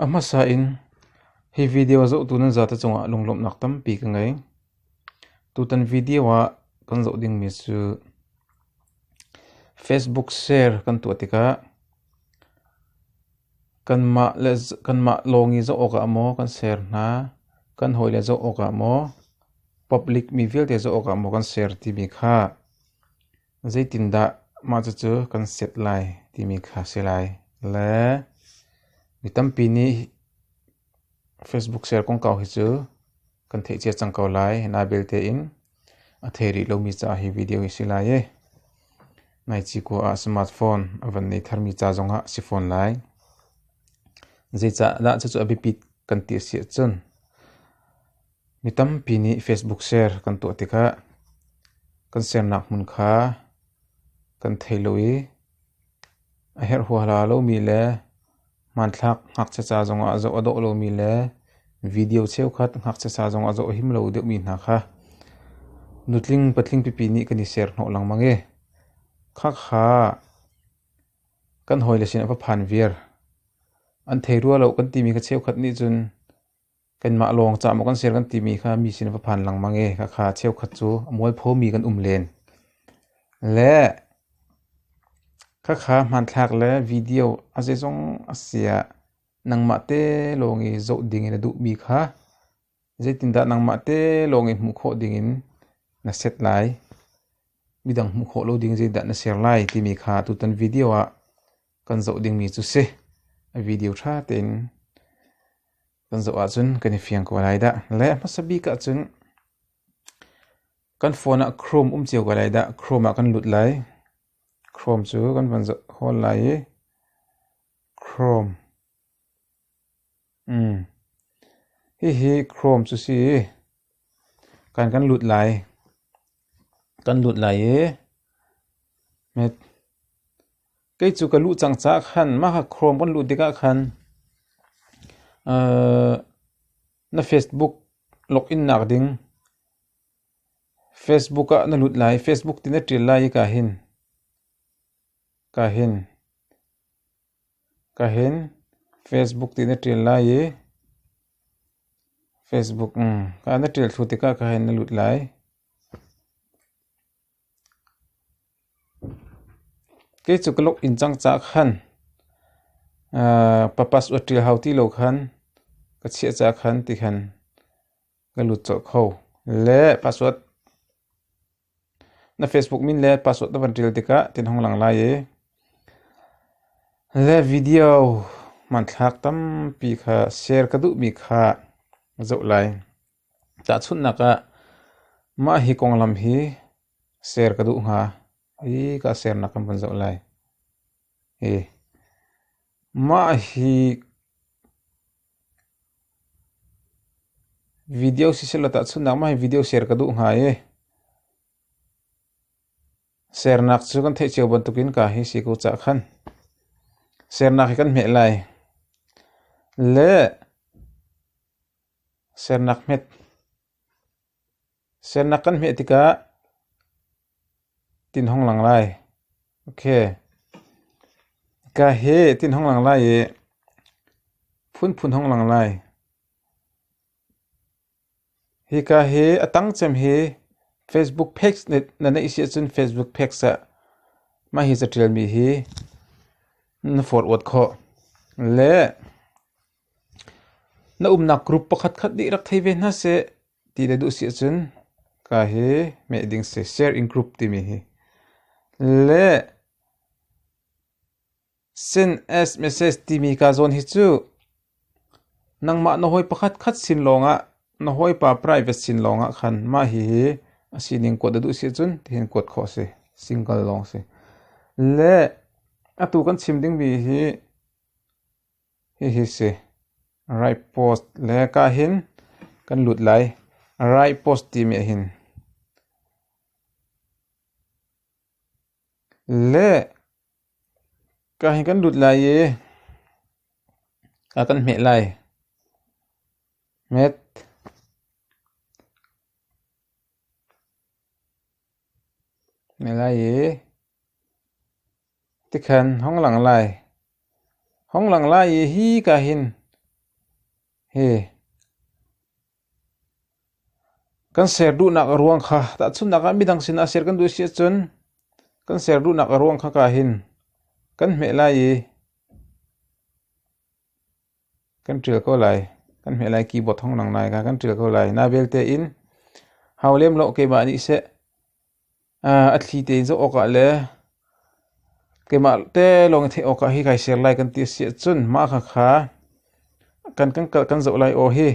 A hmasa in hi video a zohtu nan zate cungah lunglawmhnak tampi ka ngei. Tutan video ah kan zoh dingmi cu Facebook share kan tuah tikah Kanmah lawng i zoh awkah maw kan ser hna, kan hawile zoh awkah maw, public mi vialte zoh awkah maw kan ser timi kha zeitindah mah cucu kan set lai timi kha si lai. Le mi tampi nih Facebook share kongkau hi cu kan theih cia cang ko lai. Nai belte in a thei rih lomi caah hi video hi si lai i ngaichih kua ah smartphone a van nei tharmi ca zongah si fawn lai. Zeicahdah cucu a biapit kan ti a si ahcun mi tampi nih Facebook share kan tuah tikah kan sharenak hmun kha kan thei lo i A herh huahla lomi le hmanthlak ngakchiaca zongah zoh a dawh lomi le video cheukhat ngakchiaca zongah zoh a him lo deuhmi hna kha nutling patling pipi nih kan i serhnawh lengmang i khakha kan hawile sin a va phan viar. An thei rua lo kan timi kha cheukhat nih cun Kanmah lawng cah maw kan ser kan timi kha mi sin va phan lengmang i khakha cheukhat cu a mualphomi kan um len. Le khakha hmanthlak le video a zeizong a siah nangmah te lawng i zoh dingin na duhmi kha zeitindah nangmah te lawng i hmuh khawh dingin na set lai? Midang hmuh khawh lo ding zeidah na ser lai timi kha tutan video ah kan zoh dingmi cu si. A video ṭha tein kan zoh ahcun kan i fiang ko lai dah. Le hmasa bik ahcun kan phone ah Chrome um cio ko lai dah. Chrome ah kan lut lai. Chrome cu kan van zoh hawl lai i Chrome Hihi Chrome cu si. Kan kan lut lai. Kan lut lai i met. Kei cu ka luh cang caah khan mah kha Chrome kan luh tikah khan na Facebook login nak ding Facebook ah na lut lai. Facebook ti na ṭial lai i ka hin. Ka hin. Ka hin Facebook ti na ṭial lai i Facebook kaa na ṭial thlu tikah ka hin na lut lai. Kei cu ka login cang caah khan pa password ṭial hau ti lo khan ka chiah caah khan ti khan ka lut colh kho. Le password. Na Facebook min le password na van ṭial tikah tin hong lang lai i le video hmanthlak tampi kha share ka duhmi kha zoh lai. Tahchunhnak ah, mah hi konglam hi share ka duh hnga i ka sharenak kan van zoh lai. Hi mah hi Video siselaw tahchunhnak mah hi video share ka duh hnga i, sernak cu kan theih cio bantukin ka hi si ko cah khan. Sernak hi kan hmeh lai. Le sernak hmet. Siannak kan hmeh tikah tinhawng lang lai. Ok, ika he tinhawng lang lai i phunphun hawng lang lai. Hika hi a tangcem hi Facebook page na neih si ahcun Facebook page ah mah hi catialmi hi na forward khawh. Le Na umnak group pakhatkhat nih rak thei ve hna seh ti na duh si ahcun ka hi meh ding si share in group timi hi le send as message timi kaa zawn hi cu nangmah na hawi pakhatkhat sin lawngah na hawipa private sin lawngah khan mah hihi a sining kuat na duh si ahcun tihin kuat khawh a si single lawng si. Le atu kan chim dingmi hi Hihi si. Right post le ka hin kan lut lai. Right post timi ahhin le ka hin kan lut lai i a kan hmeh lai. Met. Hmeh lai i Tikhan hong lang lai, hong lang lai i hika hin hi kan ser duhnak a ruang kha tahchunhnak ah midang sinah ser kan duh a si ahcun kan ser duhnak a ruang kha ka hin kan hmeh lai i kan ṭil ko lai. Kan hmeh lai keyboard hong lang lai kha kan ṭil ko lai. Na vialte in hau lem law keimah nih seh. A thli tein zoh awkah le keimah te lawng i theih awkah hi kai ser lai kan ti a si ahcun mah khakha kan kan kalh kan zoh lai aw hi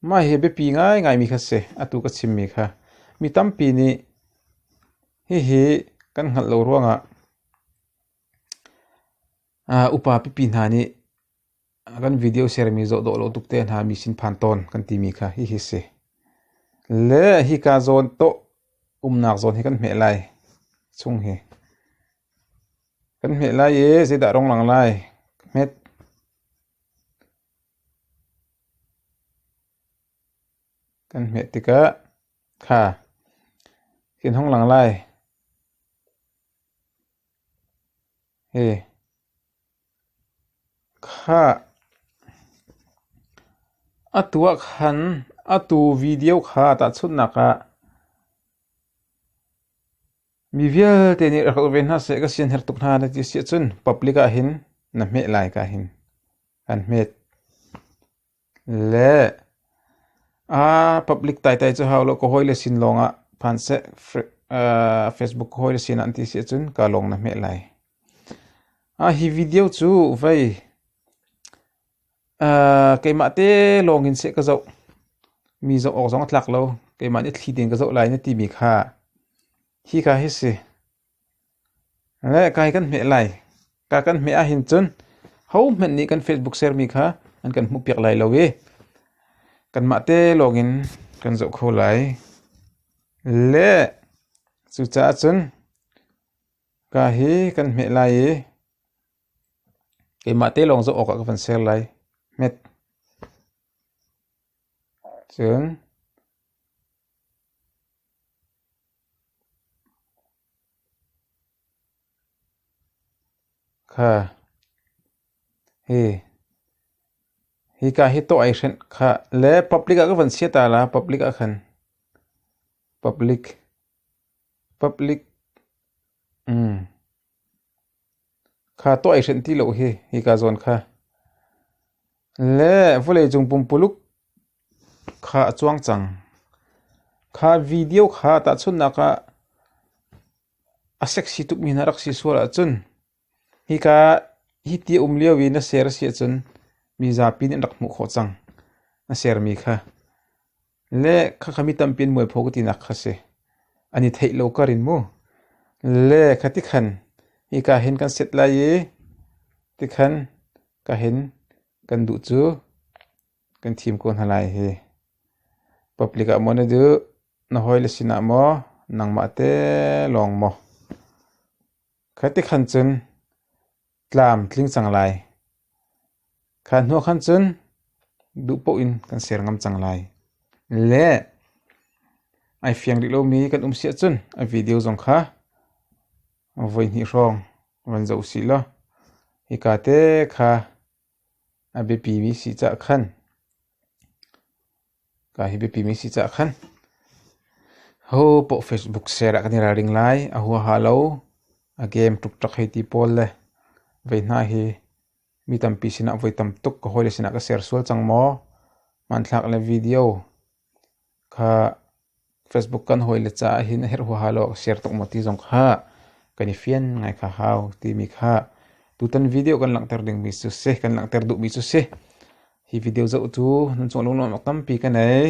mah hi a biapi ngaingaimi kha a si atu ka chimmi kha. Mi tampi nih hihi kan hngalh lo ruangah upa pipi hna nih A kan video sermi zoh dawh lo tuk te hna mi sin phan tawn kan timi kha hihi si. Le hika zawn tawh umnak zawn hi kan hmeh lai chung hi. Kan hmeh lai e zeidah rong lang lai hmet. Kan hmeh tikah kha hin hong lang lai. He. Khah! A tuah khan atu video kha tahchunhnak ah mi vialte nih rak rak ve hna seh, ka sianher tuk hna na ti a si ahcun public ah hin na hmeh lai ka hin kan hmet. Le, aa public taitai cu hau lo. Ka hawi le sin lawng ah phan seh, Facebook ka hawi le sin ah an ti si ahcun kaa lawng na hmeh lai. Hi video cu vei keimah te lawng in seh ka zoh. Mi zoh awk zong a tlak lo. Keimah nih thli tein ka zoh lai na timi kha hi ka hi si. Le kai kan hmeh lai. Ka kan hmeh ahhin cun hohmanh nih kan Facebook sermi kha an kan hmuh piak lai lo i kanmah te lawngin kan zoh kho lai. Le cucaah cun ka hi kan hmeh lai i keimah te lawng zoh awkah ka van ser lai. Hmet. Cun Hika hi tawh ai hrenh khah le public ah ka van chia ta la public ah khan. Public. Public. Kha tuah i hrenh ti lo hi hika zawn kha. Le vawleicung pumpuluk kha a cuang cang. Kha video kha tahchunhnak ah a sexy tukmi hna rak si sual ahcun hika hi ti a um lio i na ser a si ahcun mi zapi nih an rak hmuh khawh cang. Na sermi kha. Le khakha mi tampi an mualpho ka tinak kha si. An i theih lo kar in mu. Le kha tikhan hika hin kan set lai i tikhan ka hin kan duh cu kan thim ko hna lai hi. Public ah maw na duh? Na hawile sinah maw? Nangmah te lawng maw? Kha ti khan cun tlam tling cang lai; kha hnu ah khan cun duh paoh in kan ser ngam cang lai. Le ai fiang rih lomi kan um si ahcun a video zong kha voihnih hrawng van zoh u sih law hika te kha A biapimi si cah khan ho poh Facebook share ah kan i ralring lai. A huaha lo. A game ṭukṭak hei ti pawl le vei hna hi mi tampi sinah voi tam tuk ka hawile sinah ka share sual cang maw? Hmanthlak le video Kha Facebook kan hawile caah hin a herh huaha lo ah ka share tuk maw ti zong kha kan i fian ngai kha hau timi kha tutan video kan langhter dingmi cu si, kan langhter duhmi cu si. Hi video zoh cu nan cungah lungnuam awk tampi ka nei.